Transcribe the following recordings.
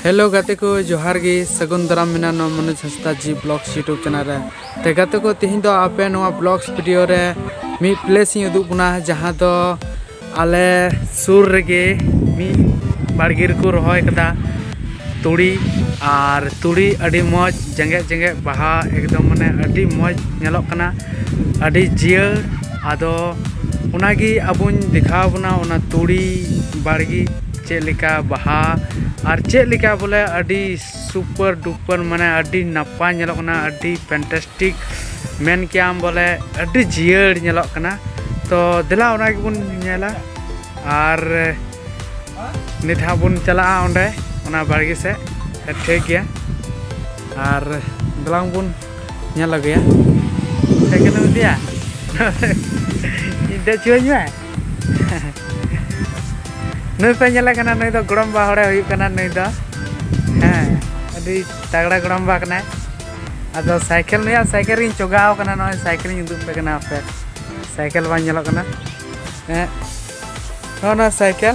hello ᱜᱟᱛᱮ ᱠᱚ ᱡᱚᱦᱟᱨ ᱜᱮ ᱥᱟᱹᱜᱩᱱ ᱫᱟᱨᱟᱢ ᱢᱮᱱᱟ ᱱᱚᱣᱟ Manoj Hansda ji blogs YouTube channel ᱨᱮ ᱛᱮ ᱜᱟᱛᱮ ᱠᱚ ᱛᱮᱦᱮᱧ ᱫᱚ ᱟᱯᱮ ᱱᱚᱣᱟ ᱵᱞᱚᱜᱥ ᱵᱷᱤᱰᱤᱭᱳ ᱨᱮ ᱢᱤᱫ ᱯᱞᱮᱥ ᱤᱧ ᱩᱫᱩᱜ ᱵᱚᱱᱟ ᱡᱟᱦᱟᱸ ᱫᱚ ᱟᱞᱮ ᱥᱩᱨ ᱨᱮᱜᱮ ᱢᱤᱫ ᱵᱟᱲᱜᱮ ᱨᱮᱠᱚ ᱨᱚᱦᱚᱭ ᱠᱟᱫᱟ ᱛᱩᱲᱤ ᱟᱨ ᱛᱩᱲᱤ ᱟᱹᱰᱤ ᱢᱚᱡᱽ ᱡᱮᱸᱜᱮᱫ ᱡᱮᱸᱜᱮᱫ ᱵᱟᱦᱟ ᱮᱠᱫᱚᱢ ᱢᱟᱱᱮ ᱟᱹᱰᱤ ᱢᱚᱡᱽ ᱧᱮᱞᱚᱜ ᱠᱟᱱᱟ ᱟᱹᱰᱤ ᱡᱤᱭᱟᱹᱲ ᱟᱫᱚ ᱚᱱᱟᱜᱮ ᱟᱵᱚᱧ ᱫᱮᱠᱷᱟᱣ ᱵᱚᱱᱟ ᱚᱱᱟ ᱛᱩᱲᱤ ᱵᱟᱲᱜᱮ ᱪᱮᱫ ᱞᱮᱠᱟ ᱵᱟᱦᱟ ᱟᱨ ᱪᱮᱫ ᱞᱮᱠᱟ ᱵᱚᱞᱮ ᱟᱹᱰᱤ ᱥᱩᱯᱟᱨ ᱰᱩᱯᱟᱨ ᱢᱟᱱᱮ ᱟᱹᱰᱤ ᱱᱟᱯᱟᱭ ᱧᱮᱞᱚᱜ ᱠᱟᱱᱟ ᱟᱹᱰᱤ ᱯᱷᱮᱱᱴᱟᱥᱴᱤᱠ ᱢᱮᱱ ᱠᱮᱭᱟᱢ ᱵᱚᱞᱮ ᱟᱹᱰᱤ ᱡᱤᱭᱟᱹᱲ ᱧᱮᱞᱚᱜ ᱠᱟᱱᱟ ᱛᱚ ᱫᱮᱞᱟ ᱚᱱᱟ ᱜᱮᱵᱚᱱ ᱧᱮᱞᱟ ᱟᱨ ᱱᱤᱛ ᱦᱟᱸᱜ ᱵᱚᱱ ᱪᱟᱞᱟᱜᱼᱟ ᱚᱸᱰᱮ ᱚᱱᱟ ᱵᱟᱲᱜᱮ ᱥᱮᱫ ᱴᱷᱤᱠ ᱜᱮᱭᱟ ᱟᱨ ᱫᱮᱞᱟᱝ ᱵᱚᱱ ᱧᱮᱞ ᱟᱹᱜᱩᱭᱟ ᱥᱟᱭᱠᱮᱞᱮᱢ ᱤᱫᱤᱭᱟ ᱤᱧ ᱫᱮᱡ ᱦᱚᱪᱚᱣᱟᱹᱧ ᱢᱮ ᱱᱩᱭ ᱯᱮ ᱧᱮᱞᱮ ᱠᱟᱱᱟ ᱱᱩᱭ ᱫᱚ ᱜᱚᱲᱚᱢ ᱵᱟ ᱦᱚᱲᱮ ᱦᱩᱭᱩᱜ ᱠᱟᱱᱟ ᱱᱩᱭ ᱫᱚ ᱦᱮᱸ ᱟᱹᱰᱤ ᱛᱟᱜᱲᱟ ᱜᱚᱲᱚᱢ ᱵᱟ ᱠᱟᱱᱟᱭ ᱟᱫᱚ ᱥᱟᱭᱠᱮᱞ ᱱᱩᱭᱟᱜ ᱥᱟᱭᱠᱮᱞ ᱨᱤᱧ ᱪᱚᱜᱟᱣ ᱠᱟᱱᱟ ᱱᱚᱜᱼᱚᱭ ᱥᱟᱭᱠᱮᱞᱤᱧ ᱩᱫᱩᱜ ᱯᱮ ᱠᱟᱱᱟ ᱟᱯᱮ ᱥᱟᱭᱠᱮᱞ ᱵᱟᱝ ᱧᱮᱞᱚᱜ ᱠᱟᱱᱟ ᱦᱮᱸ ᱱᱚᱜᱼᱚ ᱱᱚᱣᱟ ᱥᱟᱭᱠᱮᱞ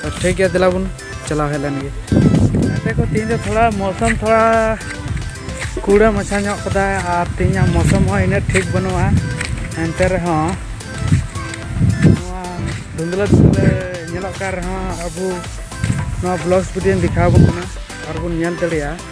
ᱛᱚ ᱴᱷᱤᱠ ᱜᱮᱭᱟ ᱫᱮᱞᱟ ᱵᱚᱱ ᱪᱟᱞᱟᱣ ᱦᱮᱡ ᱞᱮᱱ ᱜᱮ ᱜᱟᱛᱮ ᱠᱚ ᱛᱮᱦᱮᱧ ᱫᱚ ᱛᱷᱚᱲᱟ ᱢᱚᱥᱚᱢ ᱛᱷᱚᱲᱟ ᱠᱩᱲᱟᱹ ᱢᱟᱪᱷᱟ ᱧᱚᱜ ᱠᱟᱫᱟᱭ ᱟᱨ ᱛᱮᱦᱮᱧᱟᱜ ᱢᱚᱥᱚᱢ ᱦᱚᱸ ᱤᱱᱟᱹᱜ ᱴᱷᱤᱠ ᱵᱟᱹᱱᱩᱜᱼᱟ ᱮᱱᱛᱮ ᱨᱮᱦᱚᱸ ᱱᱚᱣᱟ ᱫᱷᱩᱱᱫᱽᱞᱟᱹ ᱫᱷᱩᱱᱫᱽᱞᱟᱹ ᱧᱮᱞᱚᱜ ᱠᱟᱱ ᱨᱮᱦᱚᱸ ᱟᱵᱚ ᱱᱚᱣᱟ ᱵᱞᱚᱜᱽᱥ ᱵᱷᱤᱰᱤᱭᱳᱧ ᱫᱮᱠᱷᱟᱣ ᱟᱵᱚᱱ ᱠᱟᱱᱟ ᱟᱨ ᱵᱚᱱ ᱧᱮᱞ ᱫᱟᱲᱮᱭᱟᱜᱼᱟ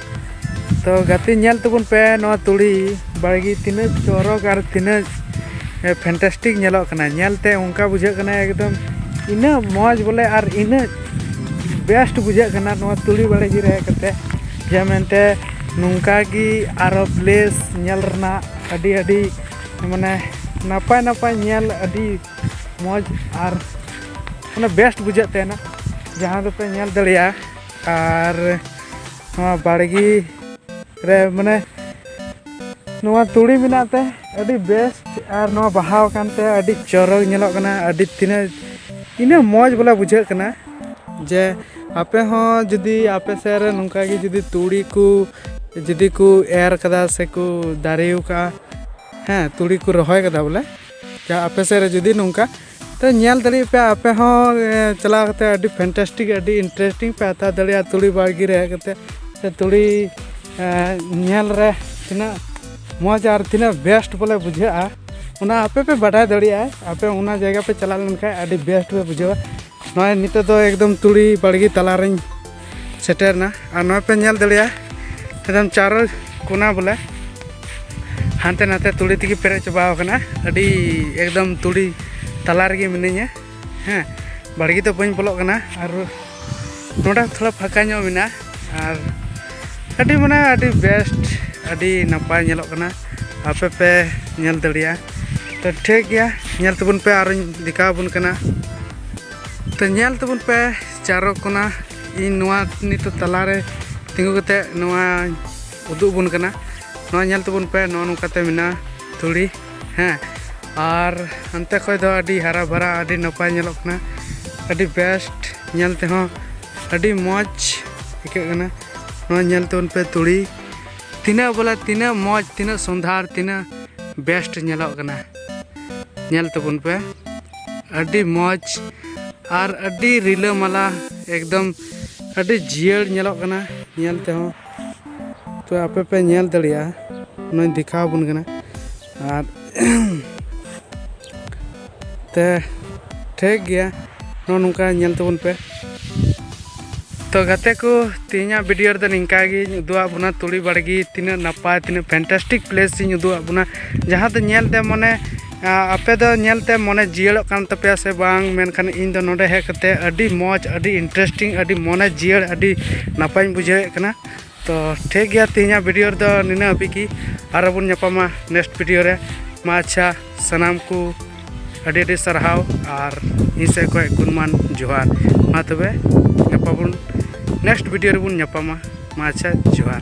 ᱛᱚ ᱜᱟᱛᱮ ᱧᱮᱞ ᱛᱟᱵᱚᱱ ᱯᱮ ᱱᱚᱣᱟ ᱛᱩᱲᱤ ᱵᱟᱲᱜᱮ ᱛᱤᱱᱟᱹᱜ ᱪᱚᱨᱚᱠ ᱟᱨ ᱛᱤᱱᱟᱹᱜ ᱯᱷᱮᱱᱴᱟᱥᱴᱤᱠ ᱧᱮᱞᱚᱜ ᱠᱟᱱᱟ ᱧᱮᱞᱛᱮ ᱚᱱᱠᱟ ᱵᱩᱡᱷᱟᱹᱜ ᱠᱟᱱᱟ ᱮᱠᱫᱚᱢ ᱤᱱᱟᱹᱜ ᱢᱚᱡᱽ ᱵᱚᱞᱮ ᱟᱨ ᱤᱱᱟᱹᱜ ᱵᱮᱥᱴ ᱵᱩᱡᱷᱟᱹᱜ ᱠᱟᱱᱟ ᱱᱚᱣᱟ ᱛᱩᱲᱤ ᱵᱟᱲᱜᱮ ᱨᱮ ᱦᱮᱡ ᱠᱟᱛᱮ ᱡᱮ ᱢᱮᱱᱛᱮ ᱱᱚᱝᱠᱟ ᱜᱮ ᱟᱨᱚ ᱯᱞᱮᱥ ᱧᱮᱞ ᱨᱮᱱᱟᱜ ᱟᱹᱰᱤ ᱟᱹᱰᱤ ᱢᱟᱱᱮ ᱱᱟᱯᱟᱭ ᱱᱟᱯᱟᱭ ᱧᱮᱞ ᱟᱹᱰᱤ ᱢᱚᱡᱽ ᱟᱨ ᱢᱟᱱᱮ ᱵᱮᱥᱴ ᱵᱩᱡᱷᱟᱹᱜ ᱛᱟᱦᱮᱱᱟ ᱡᱟᱦᱟᱸ ᱫᱚᱯᱮ ᱧᱮᱞ ᱫᱟᱲᱮᱭᱟᱜᱼᱟ ᱟᱨ ᱱᱚᱣᱟ ᱵᱟᱲᱜᱮ ᱨᱮ ᱢᱟᱱᱮ ᱱᱚᱣᱟ ᱛᱩᱲᱤ ᱢᱮᱱᱟᱜ ᱛᱮ ᱟᱹᱰᱤ ᱵᱮᱥᱴ ᱟᱨ ᱱᱚᱣᱟ ᱵᱟᱦᱟᱣ ᱟᱠᱟᱱ ᱛᱮ ᱟᱹᱰᱤ ᱪᱚᱨᱚᱠ ᱧᱮᱞᱚᱜ ᱠᱟᱱᱟ ᱟᱹᱰᱤ ᱛᱤᱱᱟᱹᱜ ᱤᱱᱟᱹᱜ ᱢᱚᱡᱽ ᱵᱚᱞᱮ ᱵᱩᱡᱷᱟᱹᱜ ᱠᱟᱱᱟ ᱡᱮ ᱟᱯᱮ ᱦᱚᱸ ᱡᱩᱫᱤ ᱟᱯᱮ ᱥᱮᱫ ᱨᱮ ᱱᱚᱝᱠᱟ ᱜᱮ ᱡᱩᱫᱤ ᱛᱩᱲᱤ ᱠᱚ ᱡᱩᱫᱤ ᱠᱚ ᱮᱨ ᱠᱟᱫᱟ ᱥᱮᱠᱚ ᱫᱟᱨᱮ ᱟᱠᱟᱫᱼᱟ ᱦᱮᱸ ᱛᱩᱲᱤ ᱠᱚ ᱨᱚᱦᱚᱭ ᱠᱟᱫᱟ ᱵᱚᱞᱮ ᱡᱟᱦᱟᱸ ᱟᱯᱮ ᱥᱮᱫ ᱨᱮ ᱡᱩᱫᱤ ᱱᱚᱝᱠᱟ ᱛᱚ ᱧᱮᱞ ᱫᱟᱲᱮᱭᱟᱜ ᱯᱮ ᱟᱯᱮ ᱦᱚᱸ ᱪᱟᱞᱟᱣ ᱠᱟᱛᱮ ᱟᱹᱰᱤ ᱯᱷᱮᱱᱴᱟᱥᱴᱤᱠ ᱟᱹᱰᱤ ᱤᱱᱴᱟᱨᱮᱥᱴᱤᱝ ᱯᱮ ᱦᱟᱛᱟᱣ ᱫᱟᱲᱮᱭᱟᱜᱼᱟ ᱛᱩᱲᱤ ᱵᱟᱲᱜᱮ ᱨᱮ ᱦᱮᱡ ᱠᱟᱛᱮ ᱥᱮ ᱛᱩᱲᱤ ᱧᱮᱞ ᱨᱮ ᱛᱤᱱᱟᱹᱜ ᱢᱚᱡᱽ ᱟᱨ ᱛᱤᱱᱟᱹᱜ ᱵᱮᱥᱴ ᱵᱚᱞᱮ ᱵᱩᱡᱷᱟᱹᱜᱼᱟ ᱚᱱᱟ ᱟᱯᱮ ᱯᱮ ᱵᱟᱰᱟᱭ ᱫᱟᱲᱮᱭᱟᱜᱼᱟ ᱟᱯᱮ ᱚᱱᱟ ᱡᱟᱭᱜᱟ ᱯᱮ ᱪᱟᱞᱟᱣ ᱞᱮᱱᱠᱷᱟᱱ ᱟᱹᱰᱤ ᱵᱮᱥᱴ ᱯᱮ ᱵᱩᱡᱷᱟᱹᱣᱟ ᱱᱚᱜᱼᱚᱭ ᱱᱤᱛᱚᱜ ᱫᱚ ᱮᱠᱫᱚᱢ ᱛᱩᱲᱤ ᱵᱟᱲᱜᱮ ᱛᱟᱞᱟᱨᱮᱧ ᱥᱮᱴᱮᱨᱱᱟ ᱟᱨ ᱱᱚᱜᱼᱚᱭ ᱯᱮ ᱧᱮᱞ ᱫᱟᱲᱮᱭᱟᱜᱼᱟ ᱮᱠᱫᱚᱢ ᱪᱟᱨᱚ ᱠᱚᱱᱟ ᱵᱚᱞᱮ ᱦᱟᱱᱛᱮ ᱱᱟᱛᱮ ᱛᱩᱲᱤ ᱛᱮᱜᱮ ᱯᱮᱨᱮᱡ ᱪᱟᱵᱟᱣ ᱟᱠᱟᱱᱟ ᱟᱹᱰᱤ ᱮᱠᱫᱚᱢ ᱛᱩᱲᱤ ᱛᱟᱞᱟ ᱨᱮᱜᱮ ᱢᱤᱱᱟᱹᱧᱟ ᱦᱮᱸ ᱵᱟᱲᱜᱮ ᱫᱚ ᱵᱟᱹᱧ ᱵᱚᱞᱚᱜ ᱠᱟᱱᱟ ᱟᱨ ᱱᱚᱰᱮ ᱛᱷᱚᱲᱟ ᱯᱷᱟᱸᱠᱟ ᱧᱚᱜ ᱢᱮᱱᱟᱜᱼᱟ ᱟᱨ ᱟᱹᱰᱤ ᱢᱟᱱᱮ ᱟᱹᱰᱤ ᱵᱮᱥᱴ ᱟᱹᱰᱤ ᱱᱟᱯᱟᱭ ᱧᱮᱞᱚᱜ ᱠᱟᱱᱟ ᱟᱯᱮ ᱯᱮ ᱧᱮᱞ ᱫᱟᱲᱮᱭᱟᱜᱼᱟ ᱛᱚ ᱴᱷᱤᱠ ᱜᱮᱭᱟ ᱧᱮᱞ ᱛᱟᱵᱚᱱ ᱯᱮ ᱟᱨᱚᱧ ᱫᱮᱠᱷᱟᱣ ᱟᱵᱚᱱ ᱠᱟᱱᱟ ᱛᱚ ᱧᱮᱞ ᱛᱟᱵᱚᱱ ᱯᱮ ᱪᱟᱨᱚ ᱠᱚᱱᱟ ᱤᱧ ᱱᱚᱣᱟ ᱱᱤᱛᱚᱜ ᱛᱟᱞᱟᱨᱮ ᱛᱤᱸᱜᱩ ᱠᱟᱛᱮ ᱱᱚᱣᱟ ᱩᱫᱩᱜ ᱟᱵᱚᱱ ᱠᱟᱱᱟ ᱱᱚᱣᱟ ᱧᱮᱞ ᱛᱟᱵᱚᱱ ᱯᱮ ᱱᱚᱜᱼᱚ ᱱᱚᱝᱠᱟᱛᱮ ᱢᱮᱱᱟᱜᱼᱟ ᱛᱩᱲᱤ ᱦᱮᱸ ᱟᱨ ᱦᱟᱱᱛᱮ ᱠᱷᱚᱡ ᱫᱚ ᱟᱹᱰᱤ ᱦᱟᱨᱟ ᱵᱷᱟᱨᱟ ᱟᱹᱰᱤ ᱱᱟᱯᱟᱭ ᱧᱮᱞᱚᱜ ᱠᱟᱱᱟ ᱟᱹᱰᱤ ᱵᱮᱥᱴ ᱧᱮᱞ ᱛᱮᱦᱚᱸ ᱟᱹᱰᱤ ᱢᱚᱡᱽ ᱟᱹᱭᱠᱟᱹᱜ ᱠᱟᱱᱟ ᱱᱚᱣᱟ ᱧᱮᱞ ᱛᱟᱵᱚᱱ ᱯᱮ ᱛᱩᱲᱤ ᱛᱤᱱᱟᱹᱜ ᱵᱚᱞᱮ ᱛᱤᱱᱟᱹᱜ ᱢᱚᱡᱽ ᱛᱤᱱᱟᱹᱜ ᱥᱚᱸᱫᱷᱟᱲ ᱛᱤᱱᱟᱹᱜ ᱵᱮᱥᱴ ᱧᱮᱞᱚᱜ ᱠᱟᱱᱟ ᱧᱮᱞ ᱛᱟᱵᱚᱱ ᱯᱮ ᱟᱹᱰᱤ ᱢᱚᱡᱽ ᱟᱨ ᱟᱹᱰᱤ ᱨᱤᱞᱟᱹᱢᱟᱞᱟ ᱮᱠᱫᱚᱢ ᱟᱹᱰᱤ ᱡᱤᱭᱟᱹᱲ ᱧᱮᱞᱚᱜ ᱠᱟᱱᱟ ᱧᱮᱞ ᱛᱮᱦᱚᱸ ᱛᱚ ᱟᱯᱮ ᱯᱮ ᱧᱮᱞ ᱫᱟᱲᱮᱭᱟᱜᱼᱟ ᱚᱱᱟᱧ ᱫᱮᱠᱷᱟᱣ ᱟᱵᱚᱱ ᱠᱟᱱᱟ ᱟᱨ ᱛᱮ ᱴᱷᱤᱠ ᱜᱮᱭᱟ ᱱᱚᱜᱼᱚ ᱱᱚᱝᱠᱟ ᱧᱮᱞ ᱛᱟᱵᱚᱱ ᱯᱮ ᱛᱚ ᱜᱟᱛᱮ ᱠᱚ ᱛᱮᱦᱮᱧᱟᱜ ᱵᱷᱤᱰᱤᱭᱳ ᱨᱮᱫᱚ ᱱᱤᱝᱠᱟ ᱜᱤᱧ ᱩᱫᱩᱜ ᱟᱫ ᱵᱚᱱᱟ ᱛᱩᱲᱤ ᱵᱟᱲᱜᱮ ᱛᱤᱱᱟᱹᱜ ᱱᱟᱯᱟᱭ ᱛᱤᱱᱟᱹᱜ ᱯᱷᱮᱱᱴᱟᱥᱴᱤᱠ ᱯᱞᱮᱥ ᱤᱧ ᱩᱫᱩᱜ ᱟᱫ ᱵᱚᱱᱟ ᱡᱟᱦᱟᱸ ᱫᱚ ᱧᱮᱞᱛᱮ ᱢᱟᱱᱮ ᱟᱯᱮ ᱫᱚ ᱧᱮᱞᱛᱮ ᱢᱚᱱᱮ ᱡᱤᱭᱟᱹᱲᱚᱜ ᱠᱟᱱ ᱛᱟᱯᱮᱭᱟ ᱥᱮ ᱵᱟᱝ ᱢᱮᱱᱠᱷᱟᱱ ᱤᱧ ᱫᱚ ᱱᱚᱰᱮ ᱦᱮᱡ ᱠᱟᱛᱮ ᱟᱹᱰᱤ ᱢᱚᱡᱽ ᱟᱹᱰᱤ ᱤᱱᱴᱟᱨᱮᱥᱴᱤᱝ ᱟᱹᱰᱤ ᱢᱚᱱᱮ ᱡᱤᱭᱟᱹᱲ ᱟᱹᱰᱤ ᱱᱟᱯᱟᱭᱤᱧ ᱵᱩᱡᱷᱟᱹᱣᱮᱫ ᱠᱟᱱᱟ ᱛᱚ ᱴᱷᱤᱠ ᱜᱮᱭᱟ ᱛᱮᱦᱮᱧᱟᱜ ᱵᱷᱤᱰᱤᱭᱳ ᱨᱮᱫᱚ ᱱᱤᱱᱟᱹᱜ ᱦᱟᱹᱵᱤᱡ ᱜᱮ ᱟᱨᱚ ᱵᱚᱱ ᱧᱟᱯᱟᱢᱟ ᱱᱮᱠᱥᱴ ᱵᱷᱤᱰᱤᱭᱳ ᱨᱮ ᱢᱟ ᱟᱪᱪᱷᱟ ᱥᱟᱱᱟᱢ ᱠᱚ ᱟᱹᱰᱤ ᱟᱹᱰᱤ ᱥᱟᱨᱦᱟᱣ ᱟᱨ ᱤᱧ ᱥᱮᱫ ᱠᱷᱚᱱ ᱜᱩᱱᱢᱟᱱ ᱡᱚᱦᱟᱨ ᱢᱟ ᱛᱚᱵᱮ ᱧᱟᱯᱟᱢ ᱵᱚᱱ ᱱᱮᱠᱥᱴ ᱵᱷᱤᱰᱤᱭᱳ ᱨᱮᱵᱚᱱ ᱧᱟᱯᱟᱢᱟ ᱢᱟ ᱟᱪᱪᱷᱟ ᱡᱚᱦᱟᱨ